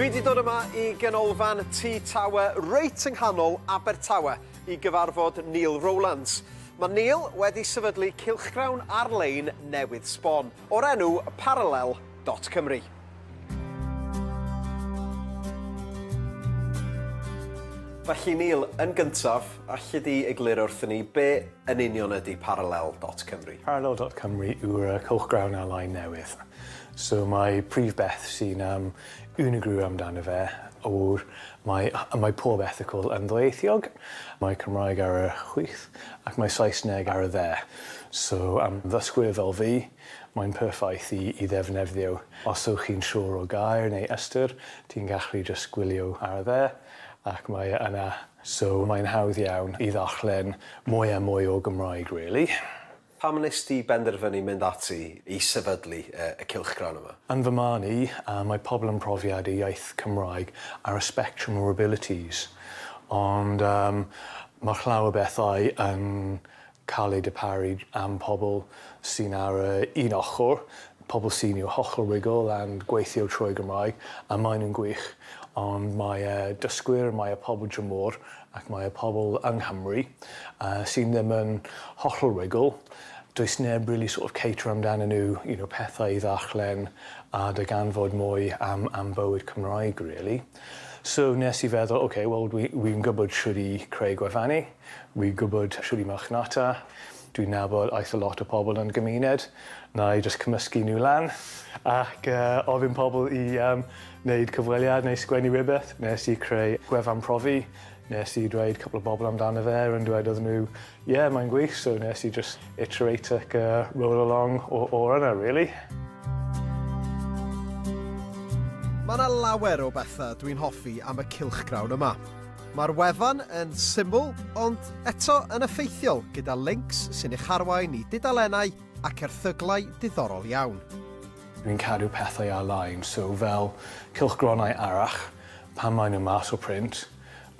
Dwi 'di dod yma i ganolfan T-Tower reit yng nghanol Abertawe i gyfarfod Neil Rowlands. Mae Neil wedi sefydlu cylchgrawn ar-lein newydd sbon o'r enw Parallel Dot Cymru. Felly Neil, yn gyntaf, alli di egluro wrthyn ni be yn union ydy Parallel dot Cymru? Parallel dot Cymru yw'r uh, cylchgrawn ar-lein newydd. So mae prif beth sy'n um, unigryw amdano fe o'r mae, mae pob ethicol yn ddweithiog. Mae Cymraeg ar y chwith ac mae Saesneg ar y dde. So am ddysgwyr fel fi, Mae'n perffaith i i ddefnefddio os ywch chi'n siwr o gair neu ystyr, ti'n gallu jyst gwylio ar dde ac mae e yna. So mae'n hawdd iawn i ddarllen mwy a mwy o Gymraeg really. Pam wnes di benderfynu mynd ati i sefydlu y cylchgrawn yma? Yn fy marn i, mae pobl yn profiad y iaith Cymraeg ar y spectrum o'r abilities, ond mae'r llawer bethau yn cael eu darparu am pobl sy'n ar yr un ochr, pobl sy'n i'w hochr rugl a'n gweithio trwy Gymraeg, a maen nhw'n gwych, ond mae y dysgwyr, mae y pobl dramor ac mae y pobl yng Nghymru sy'n ddim yn hochr rugl, does neb rili sort of caterio amdanyn nhw, you know, pethau i ddarllen a darganfod mwy am am bywyd Cymraeg rili. So nes i feddwl, ok, wel dwi wi'n gwybod shwt i creu gwefani, wi'n gwybod shwt i marchnata, dwi'n nabod eitha lot o pobl yn y gymuned, wna i jyst cymysgu nhw lan ac yy ofyn pobl i yym wneud cyfweliad neu sgwennu rywbeth. Nes i creu gwefan profi, nes i dweud cwpl o bobl amdano fe, rwy'n dweud iddyn nhw Ie, mae'n gwych, so nes i jyst iterate ac uh, roll along o, o yna, really. Mae yna lawer o bethau dwi'n hoffi am y cylchgrawn yma. Mae'r wefan yn syml, ond eto yn effeithiol, gyda links sy'n eich arwain i dudalennau ac erthyglau diddorol iawn. Dwi'n cadw pethau ar-lein, so fel cylchgronau arach, pan maen nhw mas o print,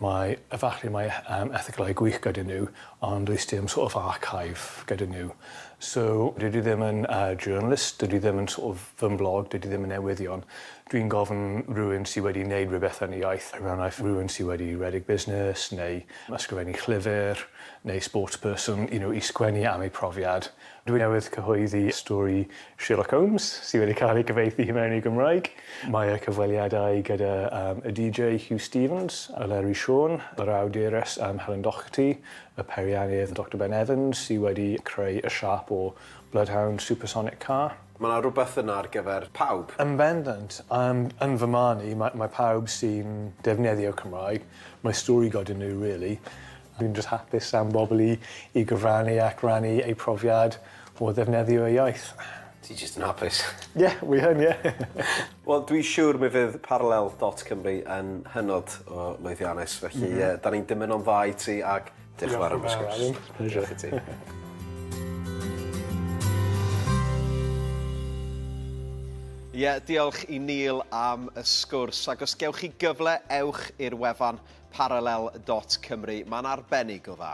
Mae, efallai mae yym erthyglau gwych gyda nhw ond does dim sort of archive gyda nhw. So dydw i ddim yn yy journalist, dydw i ddim yn sort of fy mblog, dydw i ddim yn newyddion. Dwi'n gofyn rhywun sy wedi neud rhywbeth yn y iaith, er enghraifft rhywun sy wedi rhedeg busnes neu ysgrifennu llyfr neu sportsperson you know i sgwennu am eu profiad Dwi newydd cyhoeddi stori Sherlock Holmes sydd wedi cael ei gyfieithu i mewn i Gymraeg. Mae y cyfweliadau gyda y DJ Huw Stephens, Eleri Siôn, yr awdures Helen Docherty, y peiriannydd Doctor Ben Evans sydd wedi creu y siâp o Bloodhound Supersonic Car. Mae 'na rywbeth yna ar gyfer pawb. Yn bendant. Yym, yn fy marn i, mae mae pawb sy'n defnyddio Cymraeg, mae stori goda nhw rili. Dwi'n jyst hapus am bobl i i gyfrannu ac rannu eu profiad o ddefnyddio eu iaith. Ti jyst yn hapus. Ie, wi yn, ie. Wel, dwi siwr mi fydd Parallel dot Cymru yn hynod o lwyddiannus, felly yy 'dan ni'n dymuno'n dda i ti ac Diolch yn fawr am y sgwrs. Diolch i ti. Ie, diolch i Neil am y sgwrs. Ac os gewch chi gyfle, ewch i'r wefan parallel.cymru. Mae'n arbennig o dda.